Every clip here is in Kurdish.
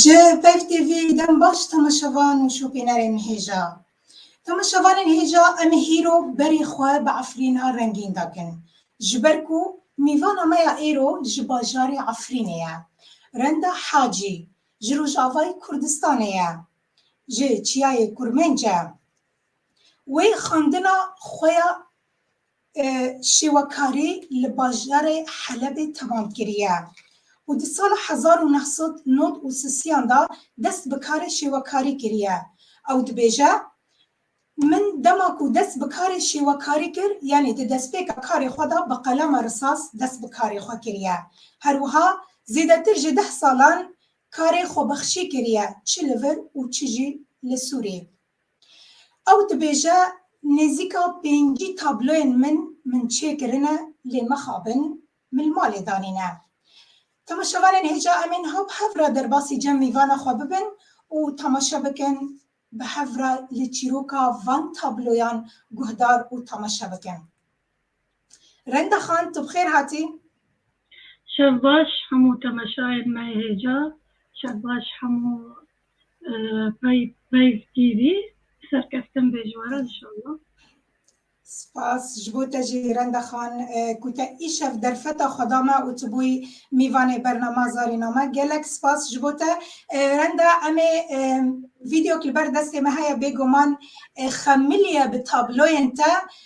Ji Peyv TV dem baş temaşevan û şopînerên hêja. Temaşevanên hêja em ê hîro berê xwe bi Efrîna rengîn dakin. Ji ber ku mîvana me ya êro ji bajarê Efrînê ye. Renda Hacî ji rojavayê Kurdistanê ye. Ji çiyayê Kurmenc e. Wê xwendina xwe ya Şêwekarî li bajarê Helebê temam kiriye û di sala hezar û neh sed û nod û sisiyan de dest bi karê şêwekarî kiriye. Ew dibêje, Min dema ku dest bi karê şêwekarî kir, yanî di destpêka karê xwe de bi qelema risas dest bi karê xwe kiriye. Her wiha zêdetir ji deh salan karê xwebexşî kiriye, çi li vir û çi jî li Sûriyê. Ew dibêje, Nêzîka pêncî tabloyên min min çêkirine lê mixabin min li malê danîne. Temaşevanên hêja em ên hop hev re derbasî cem mîvana xwe bibin û temaşe bikin bi hev re li çîroka van tabloyan guhdar û temaşe bikin. Renda Xan tu bi xêr hatî. Şev baş hemû temeşayên me yê hêja, şev baş hemû Peyv TV serkeftin bê ji we re inşallah. Spas ji bo te jî Renda Xan ku te îşev derfeta xwe da me û tu bûyî mîvanê bernama Zarîna me. Gelek spas ji bo te. Renda em ê vîdeok li ber destê me heye bêguman xemiliye bi tabloyên te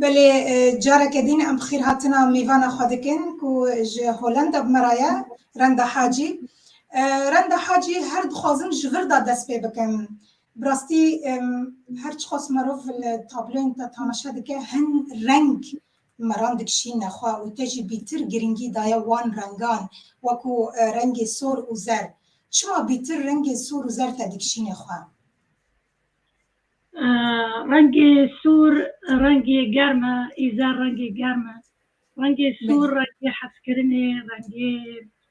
Belê careke din em xîrhatina mêvana xwe dikin ku ji Holanda bi me re ye Renda Hacî. Renda Hacî her dixwazim ji vir de dest pê bikim. Bi rastî her çiqas merov li tabloyên te tamaşe dike hin reng meran dikişîne xwe û te jî bîtir girîngî daye wan rengan wekû rengê sor û zer. Çima bîtir rengê sor û zer te dikişîne xwe? Rengê sor rengê germ e ê zer rengê germ e. Rengê sor rengê hezkirinê, rengê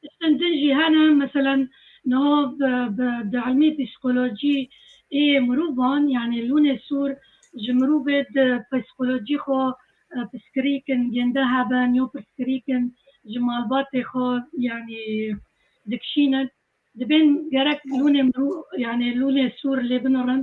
Tiştên din jî hene, meselen niha bi di ilmê psîkolojî ê mirovan yanî lûnê sor ji mirovê di psîkolojî xwe pirsgirîkin gênde hebe nîyo pirsgirîkin ji malbatê xwe yanî dikişînin. Dibên gerek lûnê mirov yanî lûnê sor lê binirin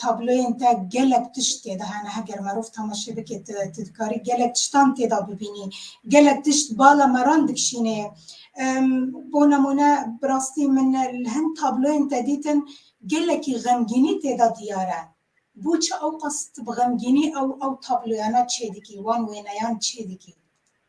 tabloyên te gelek tişt têde hene heger merov temaşe bike tu dikarî gelek tiştan têda bibînî gelek tişt bala meran dikişînê bo nemûne bi rastî min li hin tabloyên te dîtin gelekî xemgînî têda diyar e bû çi ew qas tu bi xemgînî ew ew tabloyana çê dikî wan wêneyan çê dikî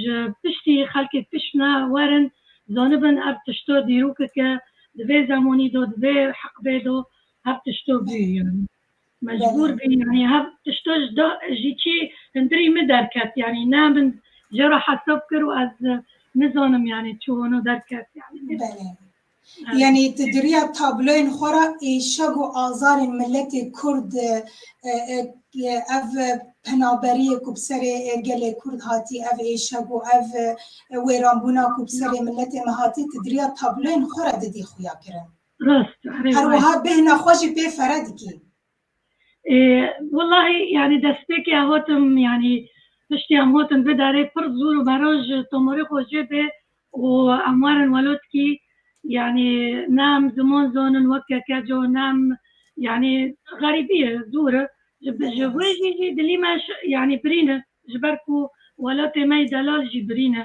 Ji piştî xelkê fişme werin zanibin ev tişto dîrokeke di vê zemonî do di vê heqbê do hev tişto bû yanî mecbûr bî yanî hev tişto ji da ji çî hindirî min derket yanî ne min jê re hesab kir û ez nizanim yanî çi wano derket yanî. Yanî tu di riya tabloyên xwe re êşeg û azarên miletê kurd ev penaberiyê ku bi serê gelê kurd hatî ev êşeg û ev wêranbûna ku bi serê miletê me hatî tu di riya tabloyên xwe re didî xuya kirin. Rast. Her wiha bêhna xwe jî pê fere dikî. Wellahî yanî destpêkê em hatin yanî piştî em hatin vê darê pir zûr û beroj tomorê xwe jê bê û em werin welotkî yanî ne em ziman zanin wek kekeco ne em yanî xerîbî ye zûr e ji wê jî jî dilî me yanî birîn e ji ber ku welatê me yî delal jî birîn e.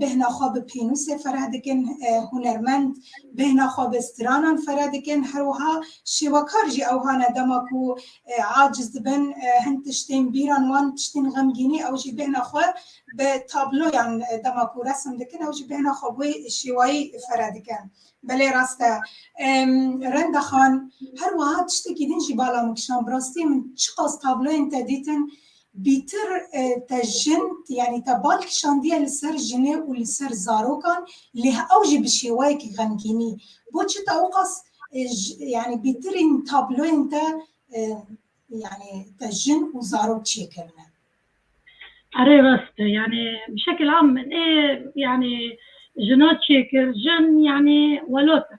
bêhna xwe bi pênûsê fereh dikin, hunermend bêhna xwe bi stranan fereh dikin, her wiha şêwekar jî ew hane dema ku aciz dibin hin tiştên bîran wan tiştên xemgînî ew jî bêhna xwe bi tabloyan dema ku resim dikin ew jî bêhna xwe bi wê şêwayî fereh dikin. Belê rast e. Renda Xan, her wiha tiştekî din jî bala min kişand, bi rastî min çiqas tabloyên te dîtin, Bîtir te jin yanî te bal kişandiye li ser jinê û li ser zarokan lê ew jî bi şêwayekî xemgînî. Bo çi te ewqas yanî bîtirîn tabloyên te yanî te jin û zarok çêkirine? Erê rast e yanî bi şekil am min ê yanî jina çêkir jin yanî welot in.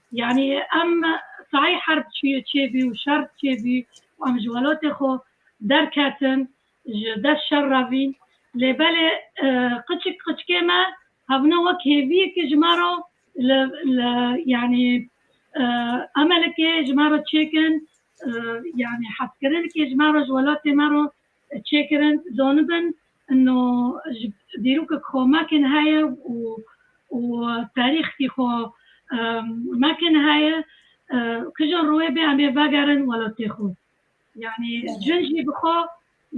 Yanî em sahî herb çûyê çêbî û şer çêbî û em ji welatê xwe derketin ji dest şer re vîn. Lê belê qiçik qiçikê me hebûne wek hêviyekê ji me re li li yanî emelekê ji me re çêkin yanî hezkirinekê ji me re ji welatê me re çêkirin zonibin no ji dîrokê xo mekên heye û û tarîxkî xo mekên heye kija royê bê em ê vegerin welatê xo yanî jin jî bi xo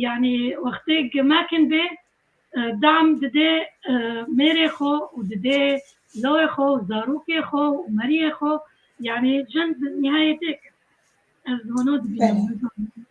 yanî wextê ke mekin bê dem didê mêrê xo û didê lawê xo û zarokê xo û meriyê xo yanî jin bi nîhayetê ez hona dibînim.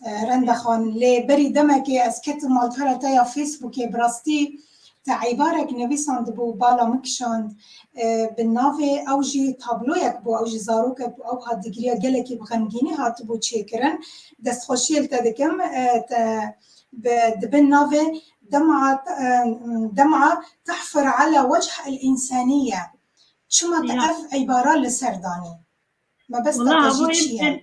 Renda xan, lê berî demekê ez ketim malpera te ya Facebookê, bi rastî te eybarek nivîsandibû û bala min kişand, bi navê ew jî tabloyek bû, ew jî zarokek bû, ew hadîgiriya gelekî bi xemgînî hatibû çêkirin. Destxweşiyê li te dikim, te bi di bin navê Dem'a Dem'a tehfir ala wecih el însanîye çima te Ya. ev eybara li ser danî? Mebesta Wala te jî havoyê çi ye?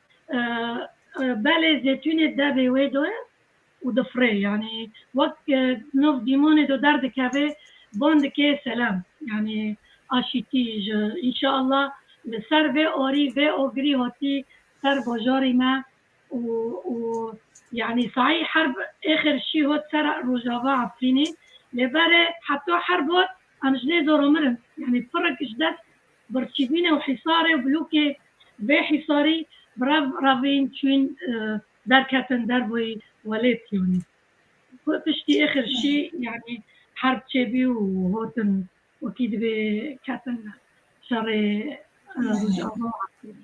Belê zêtûnê devê wê do ye û difirê yanî wek nov dîmonê do derdikevê ban dikê selem yanî aşîtî ji înşeallah li ser vê arî vê agirî hatî ser bajarî me û û yanî saî herb êxir şî hat ser rojava efrînê lê berê heta herb hat em ji lê zora mirin yanî pirek ji dest Birçîbîne û hîsarê û blokê vê hîsarî bi rev revîn çûn derketin derveyî welêt yanî ku piştî êxir şî yanî herb çêbî û hotin wekî divê ketin şerê Rojava û Efrînê.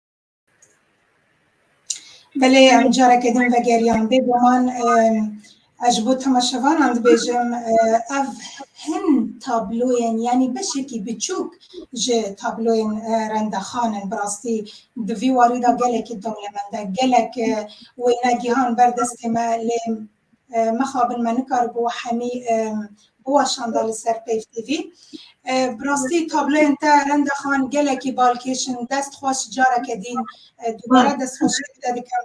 Belê em careke din vegeriyan bê guman ez ji bo temaşevanan dibêjim ev hin tabloyên yanî beşekî biçûk ji tabloyên rendexan in bi rastî di vî warî de gelekî dinya me de gelek wêne gihan ber destê me lê Mixabin me nikaribû hemî biweşanda li ser Peyv TV. Bi rastî tabloyên te Renda Xan gelekî balkêş in. Dest xweş careke dîn dubare destxweşiyê te dikim.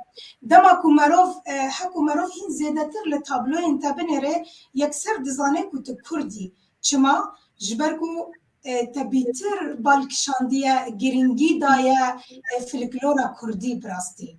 Dema ku merov heko merov hîn zêdetir li tabloyên te binêre yekser dizane ku tu kurd î. Çima? Ji ber ku te bîtir bal kişandiye, girîngî daye filklora kurdî bi rastî.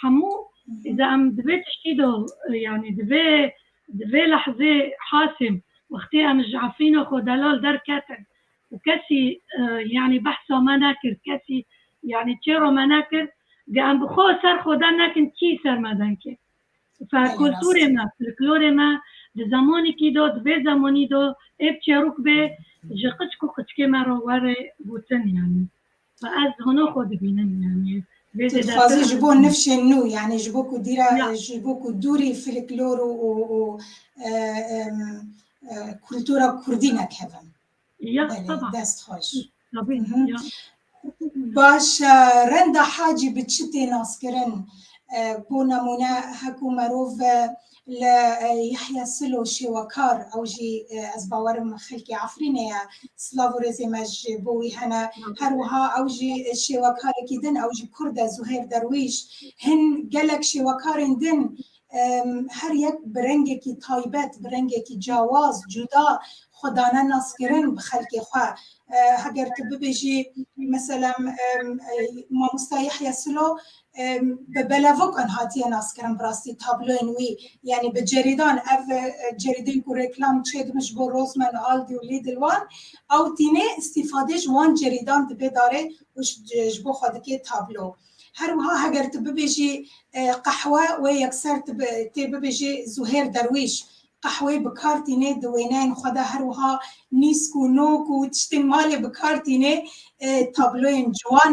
Hemû di em di vê tiştî de yanî di vê di vê lehzê Hasîm wextê em ji Efrîna xwe delal derketin û kesî yanî behsa me nekir, kesî yanî çêra me nekir, di em bi xwe ser xwe der nekin kî ser me derket. Kulturê me, folklorê me di zemanekî de di vê zemanî de êb çêrok bê ji qiçik û qiçikê me re were gotin yanî. Ez hona xwe dibînim yani. Tu dixwazî ji bo nifşên nû yani ji bo ku dîra ji bo ku dûrî filiklor û û kultura kurdî nekevin. Ya dest xweş. Baş e renda hacî bi çi tê naskirin bo nemûne hekû merov Li Yahya Silo şêwekar ew jî ez bawer im xelkê Efrînê ye. Silav û rêzê me ji bo wî hene. Her wiha ew jî şêwekarekî din ew jî kurd e Zuhêr Derwîş. Hin gelek şêwekarên din her yek bi rengekî taybet, bi rengekî cawaz, cuda xwe dane naskirin bi xelkê xwe. Heger tu bibêjî meselem Mamosta Yahya Silo bi belavukan hatiye naskirin birastî tabloyên wî yanî bi cerîdan ev cerîdên ku reklam çêdibin ji bo Rosman Aldi û Lidl wan ew tîne îstîfadê ji wan cerîdan dibe darê û ji bo xwe dike tablo. Her wiha heger tu bibêjî qehwe wê yekser tê bibêjî Zuhêr Derwîş Qehweyê bi kar tînê di wêneyên xwe de her wiha nîsk û nok û tiştên malê bi kar tînê. Tabloyên ciwan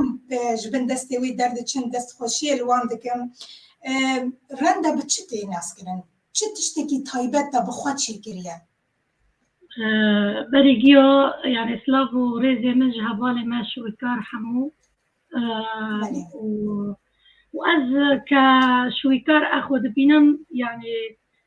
ji bin destê wî derdiçin, destxweşiyê li wan dikim. Renda bi çi tê naskirin? Çi tiştekî taybet da bi xwe çêkiriye? Berê giya yanî silav û rêzê min ji hevalê me Şwîkar Hemû û ez ke Şwîkar Exo dibînim yanî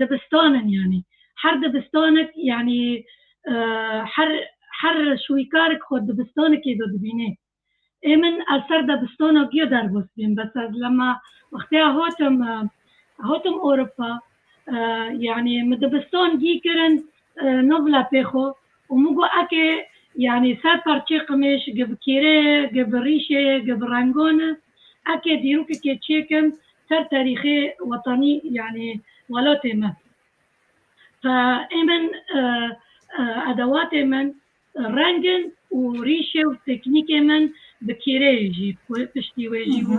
Dibistan in yanî her dibistanek yanî her her şwîkarek xwe dibistanekê de dibînê. Ê min ez ser debistana giya derbas bîm bes ez lema wextêya hatim hatim Ewropa yanî min dibistan gî kirin navla pê xwe Û min got eke yanî ser parçeyê qimêj gi bi kêrê ye, gi bi rîşê ye, gi bi rengan e, eke dîrokekê çêkim ser terîxê wetanî yanî welatê min, ta ê min edewatê min reng in û rîşê û teknîkê min bi kêrê ye jî piştî wê jî û.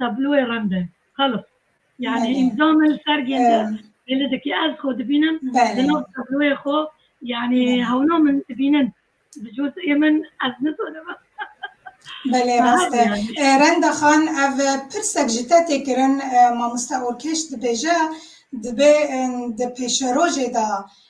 Tabloyê remde, qelix. Yani îmza min li sergên de pêlê dike. Ez xwe dibînim di nav tabloyê xwe yani hewna min dibînin. Bi coteyê min ez nizanim. Belê rast e. Renda Xan ev pirsek ji te tê kirin, Mamoste Orkêş dibêje dibê di pêşerojê de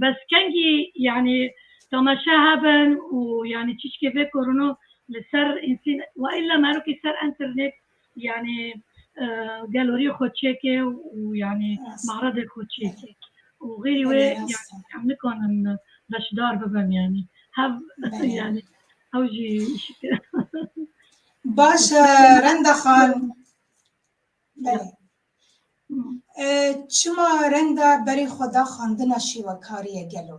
Bes kengî yanî temaşe hebin û yanî çîşkê vê korino li ser însin wa îlla merokî ser enternêt yanî gelorî xwe çêke û yanî maredê xwe çêke û xêrî wê em nikanin beşdar bibin yanî hev yanî hew jî îşikir. Baş e Renda Xan. Çima renda berê xwe da xwendina şêwekariyê gelo?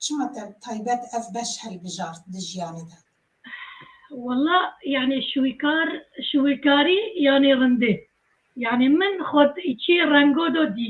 Çima te taybet ev beş hilbijart di jiyanê de? Wala yanê şwîkar şwîkarî yanê rindê. Yanê min xwe di çê rengo do dî.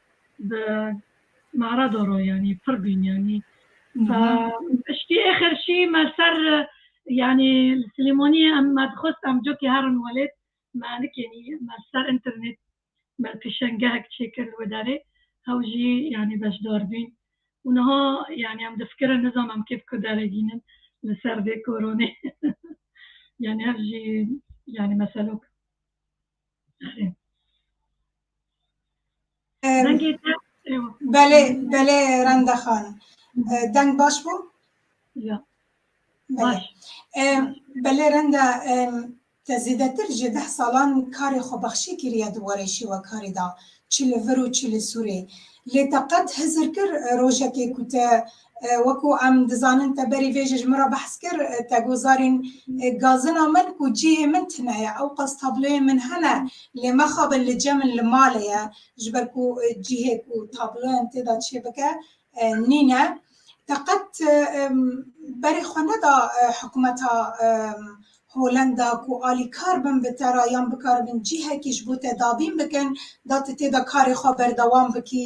bi Marado ro yanî pir bîn yanî piştî êxir şî me ser yanî li Silêmaniyê em me dixwest em cokê herin welêt me nikênî me li ser înternêt me pêşengehek çêkir li wê derê hew jî yanî beşdar bîn û niha yanî em difikirin nizanim em kê bi kû deregînin li ser vê koronê yanî hev jî yanî meselok. Belê belê renda xan. Deng baş bû? Ya. Baş. Belê renda te zêdetir ji deh salan karê xwe bexşî kiriye di warê şêwekarî de, çi li vir û çi li Sûrê. Lê te qet hizir kir rojekê ku te Wekû em dizanin te berî vê jî ji min re behs kir, te got zarîn gazina min ku cihê min tune ye, ewqas tabloyên min hene lê mexabin li cem in li malê ye ji ber ku cihê ku tabloyan tê de çê bike nîne. Te qet berê xwe neda hikûmeta Holanda ku alîkar bin bi te re yan bikaribin cihekî ji bo te dabîn bikin da tu tê de karê xwe berdewam bikî?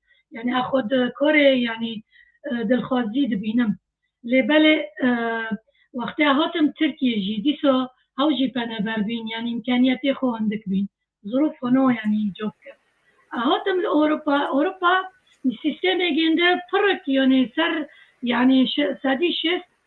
yani a xwe di korê yani dilxwazî dibînim lê belê wextê hatim Tirkiyê jî dîsa hew jî peneber bîn yani îmkaniyetê xwe hindik bîn zirûf xwe no yani îco bikim hatim li Ewropa Ewropa sîstemê gêndi pirrik yani ser yani sedî şêst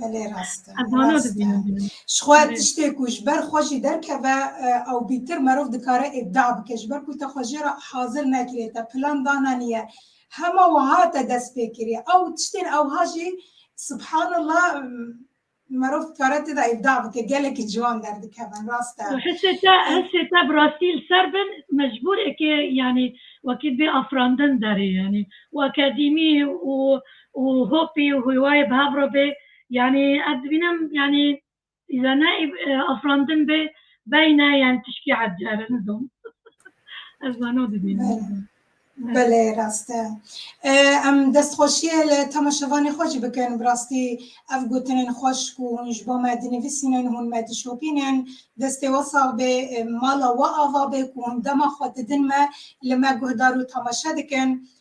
Belê rast e. Ez wana Rast e. dibînim bînim. Ji xwe tiştê ku ji ber xwe jî derkeve eh, ewbîtir merov dikare îbda bike. Ji ber ku te xwe jê re hazir nekiriye, te plan dananiye. Hema wiha te dest pê kiriye. Ew tiştên ewha jî subhanallah mm, merov dikare tê de îbda bike. Gelekî ciwan derdikevin. Rast e. Hesê te, hesê te bi rastî li ser bin mecbûr eke yanî wekî bê afirandin derê yanî û akademî û û hopî û hûywayê bi hev re bê. Yanî ez dibînim yanî îza ne afirandin bê beyne yanî tişkî ecere nizom. Ez wano dibînim. Belê rast e. Em destxweşiyê li temaşevanê xwe jî bikin. Bi rastî ev gotinên xweş ku hûn ji bo me dinivîsînin, hûn me dişopînin, destê we sax bê, mala we ava bê ku hûn dema xwe didin me, li me guhdar û temaşe dikin.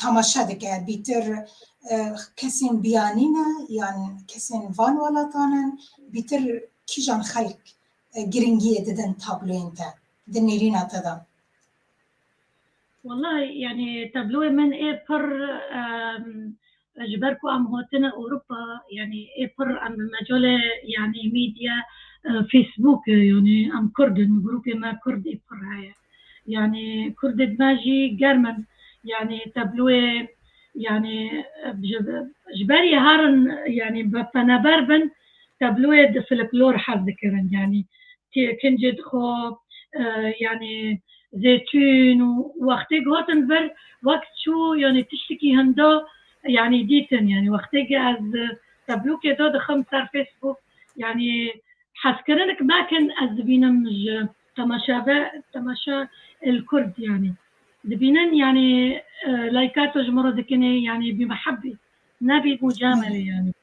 temaşe dike bîtir kesên biyanî ne yan kesên van welatan in bîtir kîjan xelk giringiyê didin tabloyên te di nêrîna te de? Wala yani tabloyê min ê pir Ji ber ku em hatine Ewropa yanî ê pir em bi mecalê yanî mîdya Facebook yanî em Kurd in grûpê me Kurd ê pir heye. Yanî Kurdê di me jî germ in yanî tabloyê yanî ji berî herin yanî bi peneber bin Tabloyê di filiklor hez dikirin yanî kincê dixo yanî zêtûn û wextê gotin vir wek çû yanî tiştikî hinda yanî dîtin yanî wextê ke ez tablokê da dixim ser Facebook yanî hezkirinik mekin ez dibînim ji temaşave temaşa el kurd yanî dibînin yanî laykato ji min re dikinê yanî bîmeheb bî nebî mucamelê yanî.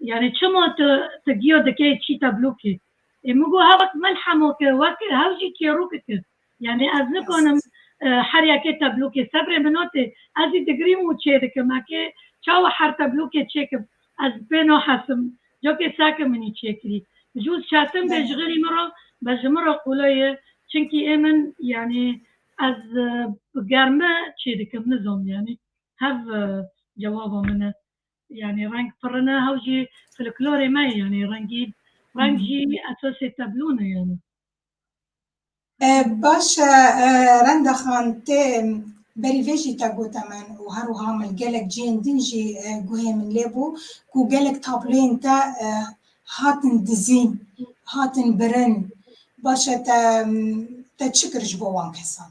Yanî çima tu tu giya dikeyê çî teblokê? Ê min got hevek melhemo ke weke hev jî kêroke ke. Yanî ez nikanim her yekê teblokê sebrê min ot ê. Ez jî digrîm û çêdikim. Eke çawa her teblokê çêkim ez pê nahesim. Cakê seke min î çêkirî. Ji û çetin bê ji xêrî min re be ji min re qule ye. Çinkî ê min yanî ez bi germi çêdikim. Nizam yanî hev cewaba min e. Yanî reng pirin e hew jî filiklorê me ye yanî rengîn reng jî esasê teblûn e yanî. Baş e Renda Xan tê berî vê jî te gote min û her wiha min li gelek cihên din jî guhê min lê bû ku gelek tabloyên te hatin dizîn, hatin birin. Baş e te te çi kir ji bo wan kesan?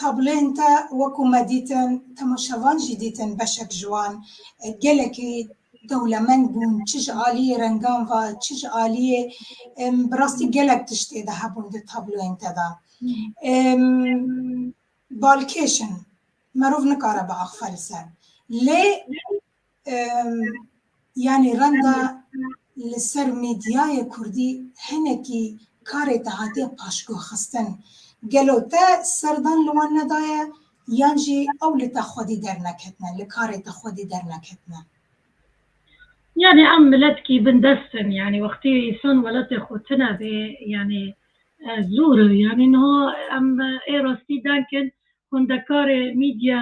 Tabloyên te wekû me dîtin, temaşevan jî dîtin beşek ji wan gelekî dewlemend bûn, çi ji aliyê rengan ve, çi ji aliyê bi rastî gelek tiştê de hebûn di tabloyên te de. Balkêş in, merov nikare biaxfelse. Lê Yanî renda li ser mîdyayê kurdî hinekî karê te hatiye paşguhxistin. Gelo te serdan li wan nedaye yan jî ew li te xwedî derneketine, li karê te xwedî derneketine? Yanî em miletkî bindest in. Yanî wextî însan welatê xwe tune bê yanî zor e. Yanî niha em ê rastî denk in hundekarê mîdya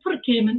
pir kêm in.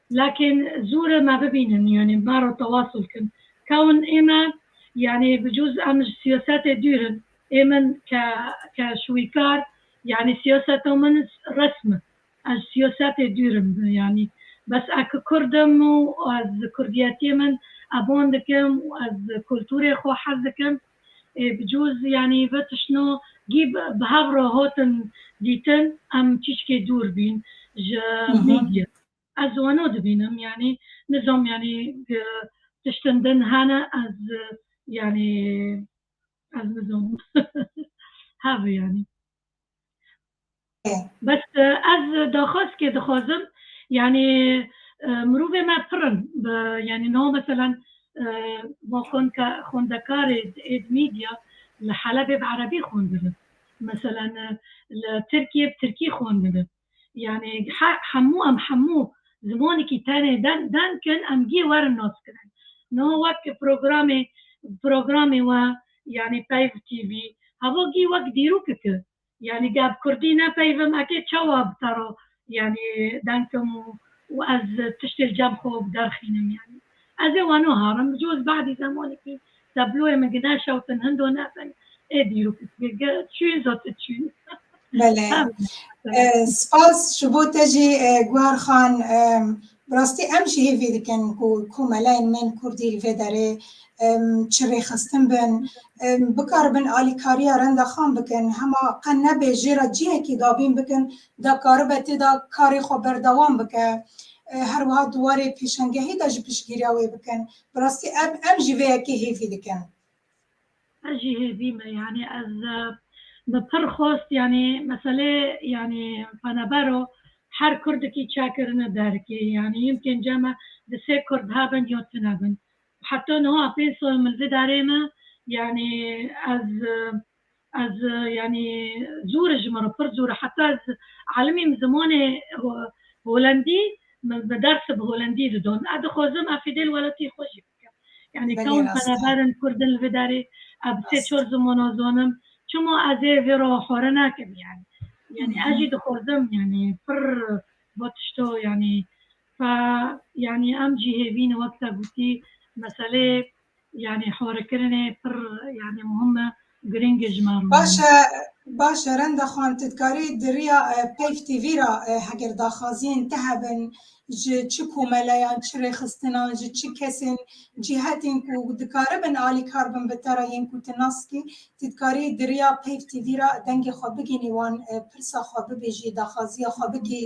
Lakin zûre me bibînin yanî me re tewasul kin ka hûn ê me yanî bi cûz em ji siyasetê dûr in ê min ke ke şwîkar yanî siyaseta min resm in ez ji siyasetê dûr im yanî bes ez ke kurd im û ez kurdiyetiyê min eban dikim û ez kulturê xwe hez dikim ê bi cûz yanî ve tiştno gî bi hev re hatin dîtin em çîçkê dûr bîn ji media. Ez wano dibînim yanî nizam yanî tiştin din hene ez yanî ez nizam hev yanî bes ez daxwaz kê dixwazim yanî mirovê me pirin yanî no mesela xonka xondekarê êd media li helebê bi erebî xwendibin mesela li tirkiyê bi tirkî xwendibin Yanî hemû em hemû zimanekî tenê deng in em gê werin nas kirin. Niha wek programê programê we yanî peyv TV heva gê wek dîrok ki yanî geh bi kurdî nepeyvim ekê çawa bi te re yanî deng kim û ez tiştê li cem xwe ve biderxînim yanî. Ez ê wano harim, bi coz badî zemanekî tabloyê min ki neşewtin hindo nebin, ê dîrû pispîr ge çûyî zo ti çûyî. Belê. Spas ji bo te jî Guhar Xan. Bi rastî em jî hêvî dikin ku komeleyên mêrn kurdî li vê derê çi rêxistin bin, bikaribin alîkariya Renda Xan bikin, hema qe nebe jê re cihekî dabîn bikin da karibe tê de karê xwe berdewam bike, her wiha di warê pêşengehê de jî piştgîriya wê bikin. Bi rastî em em jî vê yekê hêvî dikin. Ez jî hêvî me yanî ez bi pir xwest yanî meselê yanî penebero her kurdikî çakirine derikê yanî yim pênce me di sê kurd hebin yo tune bin. Heta niha pê sal min vidarê me yanî ez Ez yanî zû re ji min re pir zû re heta ez alimîm zimanê holendî min bi ders bi holendî didon. Ez dixwazim ev fîdê li welatî xwe jî bikim. Yanî kewm pereber in kurdin li vê derê. Ez bi sê çar zimana zanim. Çima ez ê vê re xware nekim yanî. Yanî ez jî dixwazim yanî pir va tişta yanî Fa yanî em cihê vîn wek te gotî meseleyê yanî horikirinê pir yanî muhim e, girîng e ji me re. Baş e, baş e Renda Xan, tu dikarî di riya peyv tv ra heger daxwaziyên te hebin ji çi komeleyan, çi rêxistinan, ji çi kesên, cîhetên ku dikaribin alîkar bin bi te re yên ku tu nas dikî, tu dikarî di riya peyv tv ra dengê xwe bigihînî wan, pirsa xwe bibêjî, daxwaziya xwe bigihî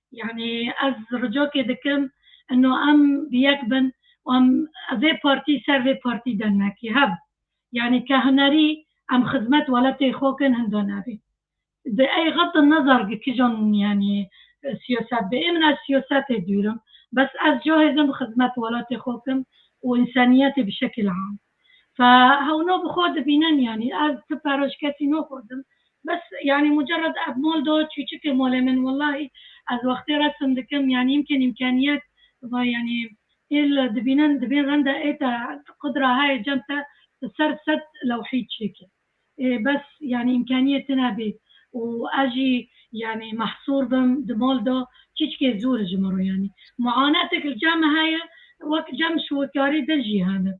Yanî ez ricakê dikim ino em bi yek bin û em vê partî ser vê partî de nekî hev. Yanî ke hunerî em xizmet weletê xwe kin hinda nebî. Di ey xatir ne zargi kijan yanî siyaset bi ê min ez siyasetê dûr im. Bes ez cahêzim xizmet welatê xwe kim û înseniyetê bi şekil am. Fa hewno bi xwe dibînin yanî ez ti peroj kesî noxwazim bes yanî mucerred ev mol do çûçikê molê min wellahî ez wextê resim dikim yanî îmkên îmkenîyet va yanî êl dibînin dibên rende ê te qudra heye cem te ser sed lewhî çêke. Bes yanî îmkaniyê tune bê û ez jî yanî mehsûr bim di mal de çîçikê zûr ji min re yanî muanetek li cem heye wek cem şiwekarî din jî hene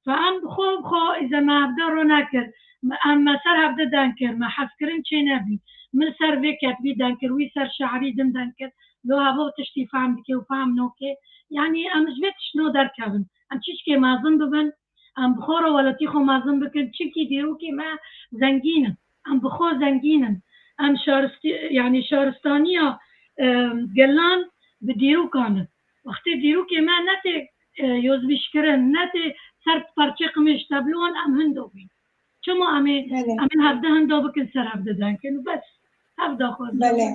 fa em bi xwe bi xwe îze me hevde re nekir em me ser hevde deng kir me hezkirin çê nebî min li ser vê ketbî deng kir wî ser şeirî din deng kir lo hevo tiştî fehm dike û fehm nake yanî em ji vê tiştno derkevin em çîçikê mezin bibin Em bi xwe re welatî xwe mezin bikin çimkî dîrokê me zengîn in. Em bi xwe zengîn in. Em şarist yanî şaristaniya gelan bi dîrokan in. Wextê dîrokê me netê yozbîşkirin, netê ser parçê qimêj tevlon em hin dobîn. Çima em ê Belê. em ê hevdehan da bikin ser hevdedan kin û bes hevda xwe da. Belê.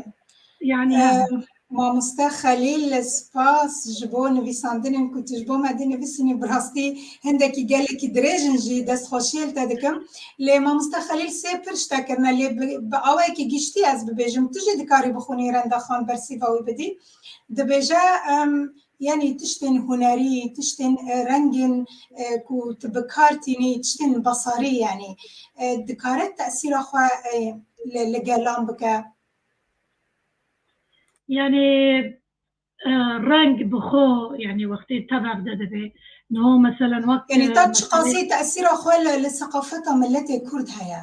Yanî Em, hevda. Mamoste Xelîl spas ji bo nivîsandinên ku tu ji bo me dê nivîsînî bi rastî hindekî gelekî dirêj in jî destxweşiyê li te dikim. Lê Mamoste Xelîl sê pir ji te kirine lê bi bi awayekî giştî ez bibêjim tu jî dikarî bixwînî Rendaxan bersîva wî bidî. Dibêje em Yanî tiştên hunerî, tiştên rengên ku tu bi kar tînî, tiştên basarî yanî dikare tesîra xwe li gelan bike? Yanî reng bi xwe yanî wextê tev de dibe. Niha meselen wek. Yanî ta çiqasî tesîra xwe li seqafeta miletê Kurd heye?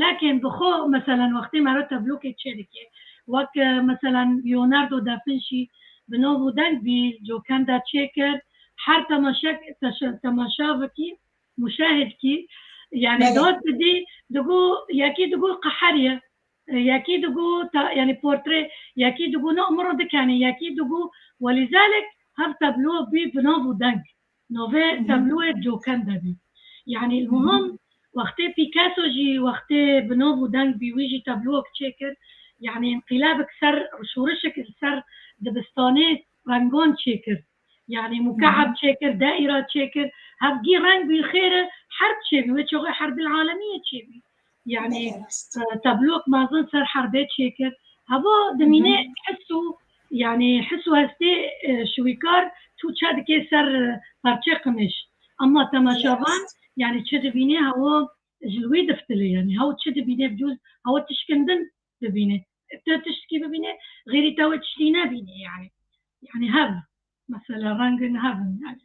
Lakin bi xwe meselen wextê me re teblokê çê dike. Wek meselen Leonardo da Finci bi nav û deng bî Gioconda çê kir. Her temaşek temaşa bikî, muşahid kî, yanî dot bidî, digo yekî digo qeher ye, yekî digo yanî portre, yekî digo no imro dikenê, yekî digo welîzelek hev tablo bî bi nav û deng. Navê tabloyê Coken de bî. Yanî muhim wextê Pîkeso jî wextê bi nav û deng bî wî jî tabloyek çêkir. Yanî înqîlabik ser şorişik li ser dibistanê rengan çêkir. Yanî muka'eb çêkir, daîra çêkir. Hevgî reng bî xêr e herb çêbî. Wê çaxê herbil alemî yê çêbî. Yanî tablok mazin ser herbê çêkir. Hava dimîne his û yanî his û hestê şiwîkar tu çe dike ser parçe qimiş. Ama temaşavan yanî çi dibîne hawa ji li wê diftile yanî haw çi dibîne bi cûz hawa tişkindin dibîne. Te tiştkî bibîne xêrî te wê tiştî nebîne yanî. Yanî hev mesela rengin hevin yanî.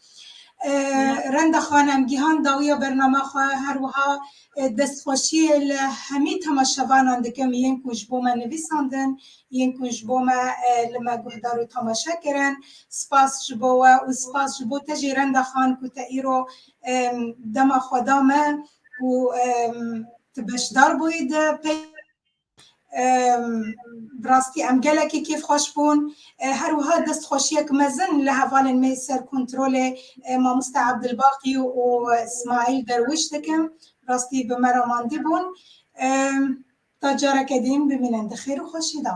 Renda Xanem Gihan dawiya bernama xwe her wiha Destxweşiyê li hemî temaşevanan dikim yên ku ji bo me nivîsandin, yên ku ji bo me li me guhdar û temaşe kirin. Spas ji bo we û spas ji bo te jî Renda Xan ku te îro dema xwe da me û tu beşdar bûyî di Bi rastî em gelekî kêfxweş bûn. Her wiha destxweşiyek mezin li hevalên me ser kontrolê Mamoste Abdilbaqî û Smaîl Derwîş dikim. Bi rastî bi me re mandî bûn. Ta careke dîn bimînin di xêr û xweşî de.